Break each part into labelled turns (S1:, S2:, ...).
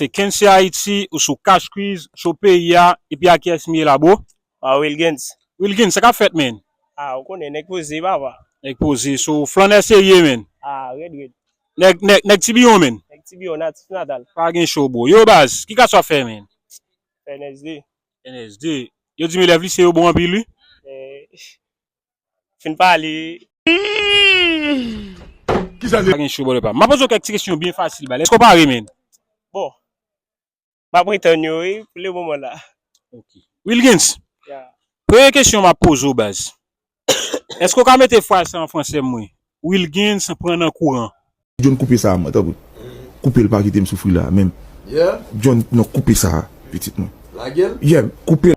S1: Se Kensy Haiti ou sou Cash Quiz show peyi a epi a kiyès m ye la bro? Aw Wilguens.
S2: Wilguens sa kap fèt
S1: menn? Ah ou konnen nèg
S2: poze papa. Nèg poze so
S1: flannè serye menn. Ah rèd rèd.
S2: Nèg nèg nèg
S1: tibiyon menn. Nèg tibiyon natif
S2: natal. Pa gen cho bro. Yo
S1: baz ki kas wap fè menn? NSD.
S2: NSD.
S1: Yo dim elèv lise yo bon anpil wi. Eh
S2: Fin pale.
S1: Kisa se. Pa gen show bòlè pam. Map poze w kèk ti kesyon byen fasil bal. Eske w pare menn? Bon.
S2: Map retann yo wi pou le moman la. Ok.
S1: Wilguens. Ya.
S2: Premye kesyon map
S1: poze w baz. Eske w ka mete fraz sa an fransè m wi? Wilguens pran nan kouran. John koupe sa a mwen
S3: tanpri koupe l pa kite m soufri la menm John
S4: non koupe
S3: sa a pitit mwen lagel yeah
S4: koupe l.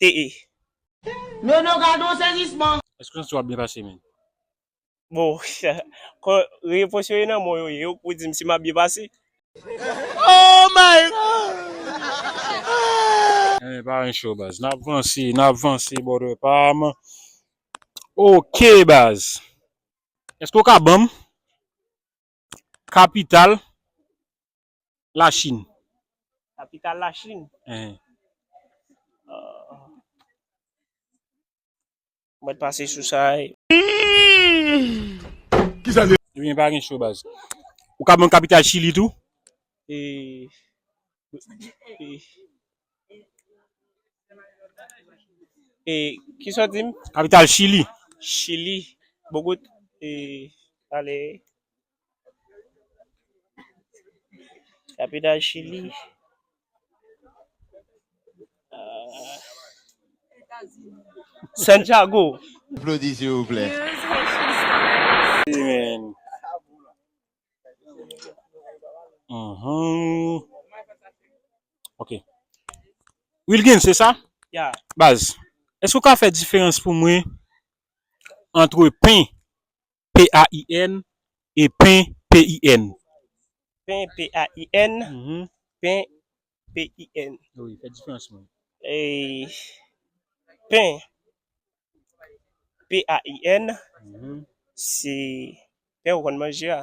S2: te e. Nono
S5: gadon sezisman. Eske santi w ap byen pase
S1: menn. Bon
S2: kon repons yo e nan mwen yo ye yo k pou di m si m ap byen pase. Oh
S5: my God. Enben pa ren cho baz. Nap
S1: vanse nap vanse brother pa m. Ok baz. Eske w ka ban m kapital. La Chine. Kapital
S2: la Chine. Ehe. Mwen t pase sou sa e.
S4: Ebyen pa gen cho baz.
S1: Ou ka banm kapital chili tou? E.
S2: E kisa w dim? Kapital chili.
S1: Chili.
S2: Bogot e. Ale. Kapital Chili. Ah. Santiago. Aplaudi s'il vous
S4: plaît. Amen.
S1: Mhm. Ok. Wilkin, se sa? Ya. Baz, eske ou ka fè diferans pou mwen antre pen P-a-i-n, e pen, p-i-n. Pen,
S2: p-a-i-n, pen, p-i-n. Wi, fè diferans
S1: pou mwen.
S2: Pen, p-a-i-n, se pen ou konn manje a.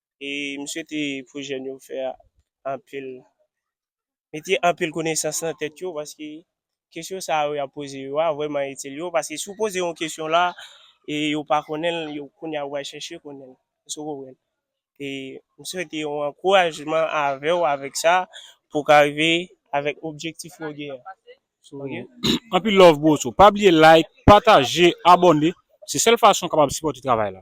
S2: e m swete pou jèn yo fè anpil mete anpil konesans nan tèt yo paske kesyon sa yo y ap poze yo a vrèman itil yo paske si w poze yon kesyon la e yo pa konnen l yo kounye a yo pral chèche konnen l èske w konprann e m swete yon ankourajman avè w avèk sa pou w ka rive avèk objektif ou gen an.
S1: Anpil love bro so pa bliye like pataje abòne se sèl fason kapab sipòte travay la.